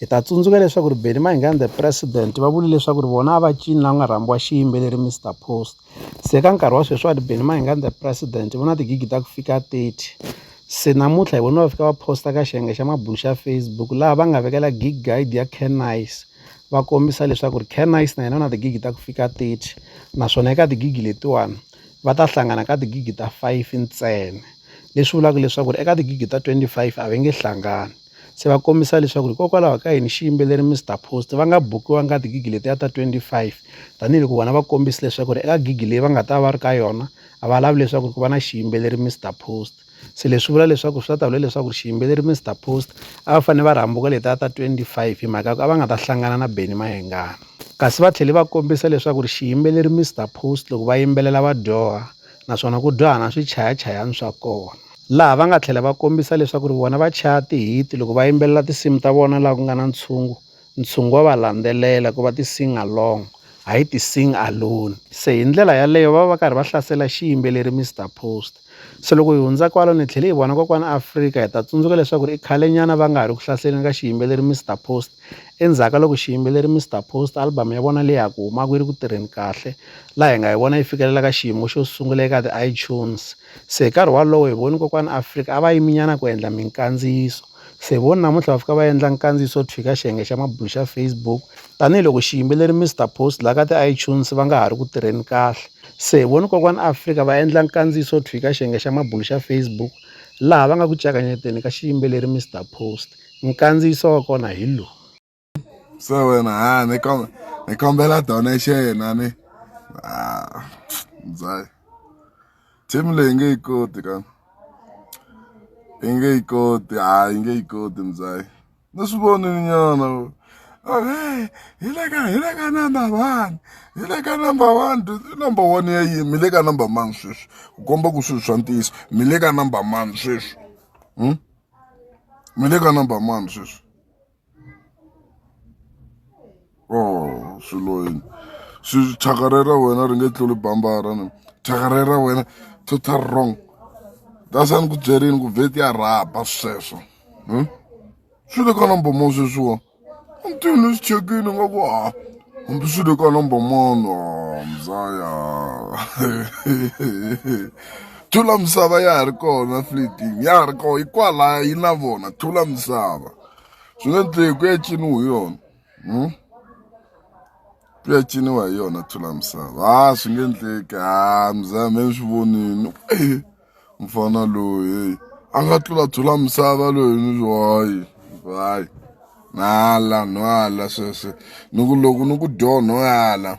Hi ta tsundzuka leswaku ri Benny Mayengani the president va vule leswaku ri vona a va cini la ku nga rhambiwa xiyimbeleri Mister Post se ka nkarhi wa sweswiwani Benny Mayengani the president vo na tigigi ta ku fika thirty se namuntlha hi vone va fika va post-a ka xiyenge xa mabulo xa Facebook laha va nga vekela gig guide ya Can Nice va kombisa leswaku ri Can Nice na yena u na tigigi ta ku fika thirty naswona eka tigigi letiwani va ta hlangana ka tigigi ta five ntsena leswi vulaka leswaku ri eka tigigi ta twenty five a va nge hlangani. se va kombisa leswaku hikokwalaho ka yini xiyimbeleri Mister Post va nga bukiwanga ka tigigi letiya ta twenty five tanihiloko vona va kombisa leswaku ri eka gigi leyi va nga ta va ri ka yona a va lavi leswaku ku va na xiyimbeleri Mister Post se leswi vula leswaku swi ta ta vula leswaku ri xiyimbeleri Mister Post a va fanele va ri hambuka letiya ta twenty five hi mhaka ya ku a va nga ta hlangana na Benny Mayengani kasi va tlhele va kombisa leswaku ri xiyimbeleri Mister Post loko va yimbelela va dyoha naswona ku dyoha na swichayachayani swa kona. laha va nga tlhela va kombisa leswaku vona va chaya tihiti loko va yimbelela tinsimu ta vona laha ku nga na ntshungu, ntshungu wa va landzelela ku va ti-sing-along hayi ti-sing-alone. Se hi ndlela yaleyo va va va karhi va hlasela xiyimbeleri Mister Post. Se loko hi hundza kwalo ni tlhele hi vona Kokwana Afrika hi ta tsundzuka leswaku i khalenyana va nga ha ri ku hlaseleni ka xiyimbeleri Mister Post endzhaku ka loko xiyimbeleri Mister Post album ya vona leyi ha ku humaka yi ri ku tirheni kahle laha hi nga yi vona yi fikelela ka xiyimo xo sungula eka ti-iTunes Se hi nkarhi walowo hi voni kokwani Afrika a va yimi nyana ku endla minkandziyiso se vona namuntlha va fika va endla nkandziyiso thwi ka xiyenge xa mabulo xa Facebook tanihiloko xiyimbeleri Mister Post la ka ti iTunes va nga ha ri ku tirheni kahle se hi voni kokwani Afrika va endla nkandziyiso thwi ka xiyenge xa mabulo xa Facebook laha va nga ku ka xiyimbeleri Mister Post nkandziyiso wa kona hi lowu. so wena ha ni kombela ni kombela donation a ni ah mzaya team leyi nge yi koti ka yi nge yi koti ha yi nge yi koti mzaya ni swi vonile nyana okay hi le ka hi le ka number one hi le ka number one number one ya yini mi le ka number mani sweswi ku komba ku swilo swa ntiyiso mi le ka number mani sweswi mi le ka number mani sweswi oh swilo yini swi thyaka ra ra wena ri nge tluli bambara ni thyaka ra ra wena total wrong that's a ni ku byerini ku vheti ya rhaba sweswo hmm? swi le ka number mo sweswiwa mtini swi chekini nga ku ha hambi swi le ka number mono mzaya thula misava ya ha ri kona fleeting ya ha ri kona hikwalaho yi na vona thula misava swi nga endleki ku ya ciniwa hi yona hmm? ku ya ciniwa hi yona thula misava ha ah, swi nge endleki ha ah, mzame ni swi vonini eh, mfana loyi a nga tlula thula misava loyi ni hayi hayi nala nhwala sweswe ni ku loko ni ku dyo nhwala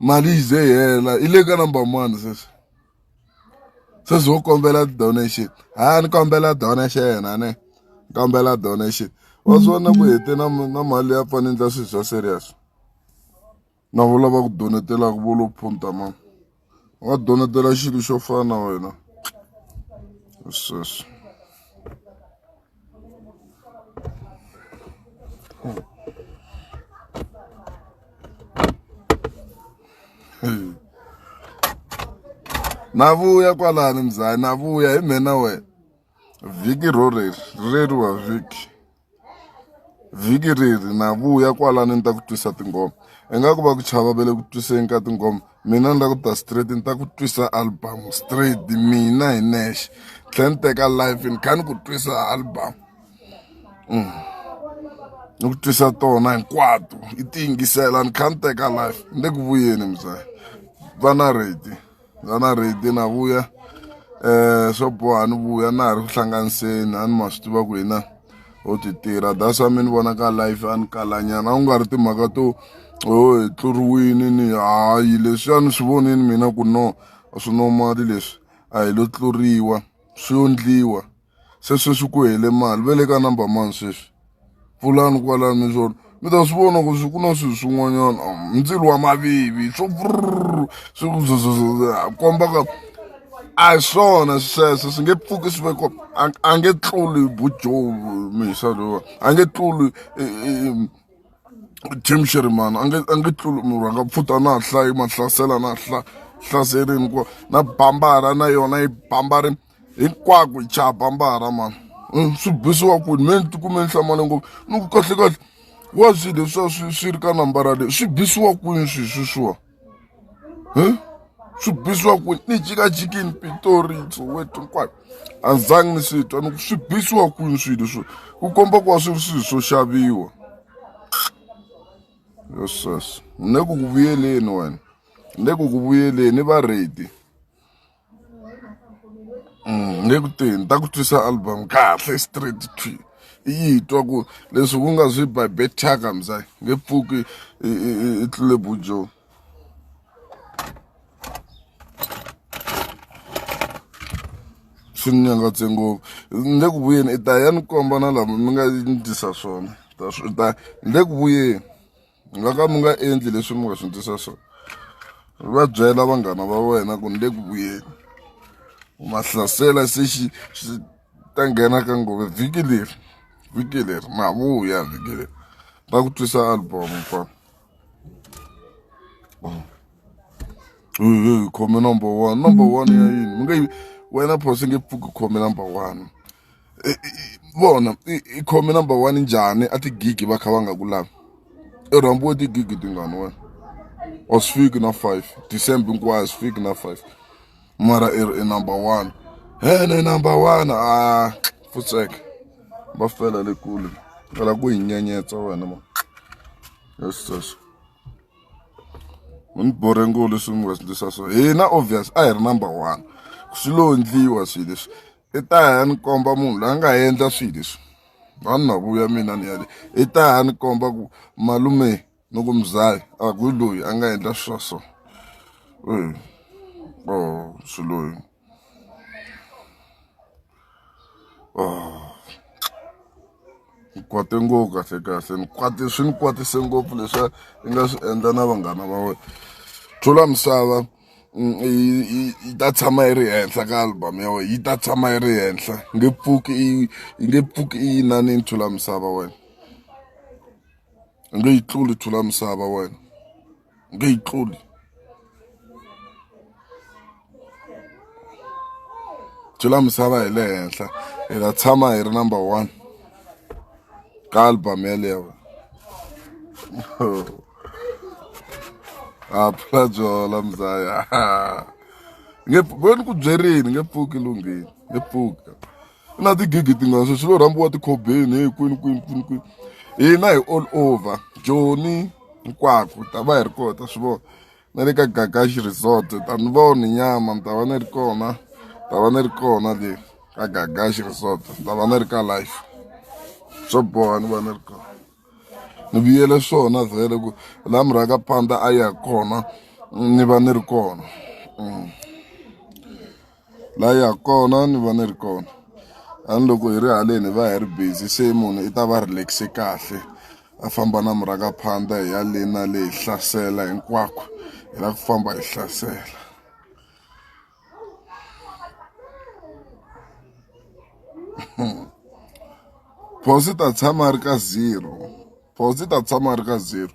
mali yi ze yi hela yi le ka number mani sweswi sweswi wo kombela donation ha ni kombela donation a ne ni kombela donation wa swi vona ku hete na na mali ya pfani endla swilo swa serious na vo lava ku donetelaka vo lo phunta ma wa donetela xilo xo fana na wena sweswo na vuya kwalani mzaya na vuya hi mhena wena vhiki ro reri reri wa vhiki vhiki reri na vuya kwalani ni ta ku twisa tinghoma ingaku va ku chava va le ku twiseni ka tinghoma mina ni la ku ta straight ni ta ku twisa album straight mina hi nexe tlhela ni teka life ni kha ni ku twisa album mm. ni ku twisa tona hinkwato i ti yingisela ni kha ni teka life ni le ku vuyeni muzaya va na redi va na redi na vuya um swo boha ni vuya na ha ri ku hlanganiseni a ni ma swi tiva ku hina ho ti tirha that's why mi ni vona ka life a ni kalanyana a ku nga ri timhaka to o hi tluriwini ni hayi leswi a ni swi vonini mina ku no a swi normali leswi a hi lo tluriwa swi ondliwa se sweswi ku hele mali ve le ka number mani sweswi pfulani kwalano mi swo. mi ta swi vona ku swi ku na swilo swin'wanyana um, ndzilo wa mavivi swo swi komba ka a hi swona sweswo swi nge pfuki swi veko a nge tluli bujoe misa lowa a nge tluli e, e, e, tim sherman a nge a nge tluli munhu a nga pfuta na hla yi mahlasela na hla hlaserini ku na bambara na yona yi bambari hinkwako hi chapa mbara mani mm, swi bisiwa kwini me ni tikume ni hlamale ngopfu ni ku kahle kahle wa swi leswiwa swi swi ri ka nambara leyi swi bisiwa kwini swi sweswiwa um swi bisiwa kwini ni jikajikini pitoritso wetu hinkwayo a ni zangi ni swi twa ni ku swi bisiwa kwini swi leswiwa ku komba ku va swi ri swilo swo xaviwa yeses ni le ku ku vuyeleni wena ni le ku ku vuyeleni va ready Mm, ni ku ti ni ta ku twisa album kahle straight to i yi twa ku leswi ku nga swi by betaka mza nge pfuki i tlule bujo swi ni nyangatse ngopfu ni le ku vuyeni i ta ya ni komba na lama mi nga ni tisa swona ta swi ta ni le ku vuyeni mi nga ka mi nga endli leswi mi nga swi ndlisa swona va byela vanghana va wena ku ni le ku vuyeni u ma hlasela se xi xi ta nghena ka nghohe vhiki leri vhiki leri ma vuya vhiki leri ta ku twisa album fa khome number one number one ya yini mi nge wena phosi nge pfuki khome number one vona i khome number one njhani a tigigi va kha va nga ku lavi i rhambiwe tigigi tingani wena or swi fiki na five december hinkwayo swi fiki na five mara i ri i number one hene number one a ah, futseka va fela le kule kala ku hi nyenyetsa wena ma yes yes u ni borhe ngolo swi n'wi va swi ndlisa so hina obvious a hi ri number one swi lo ndliwa swilo leswi i ta ya ni komba munhu loyi a nga endla swilo leswi vanhu na vuya mina ni yale i ta ya ni komba ku malume ni ku mzali a ku loyi a nga endla swa so o swiloyi ni kwate ngopfu kahle kahle ni kwate swi ni kwatise ngopfu leswi i nga swi endla na vanghana va wena tlula misava mm, yi ta tshama yi ri henhla ka album ya wena yi ta tshama yi ri henhla nge pfuki yi nge pfuki yi yinani yi thula misava wena nge yi tluli thula misava wena nge yi tluli thula misava hi le henhla hi ta tshama hi ri number one ka album yeleyo a phula byola mzaya nge bo ni ku byerini nge pfuki lunghini nge pfuka na tigigi tingani sweswi lo rhambiwa tikhobeni hi kwini kwini kwini kwini hina hi all over joni hinkwako ta va hi ri kota swi vona na le ka gagashi resort ta ni vona nyama ni ta va ni ri kona ni ta va ni ri kona le ka gagashi resort ni ta va ni ri ka life swo boha ni va ni ri kona ni vuyele swona vhele ku la murhaka panda a ya kona ni va ni ri kona mm. la ya kona ni va ni ri kona a ni loko hi ri haleni hi va hi ri busy se munhu i ta va relax-e kahle a famba na murhangaphandha hi ya le na le hi hlasela hinkwako hi la ku famba hi hlasela phosi ta tshama ri ka zero phosi ta tshama ri ka zero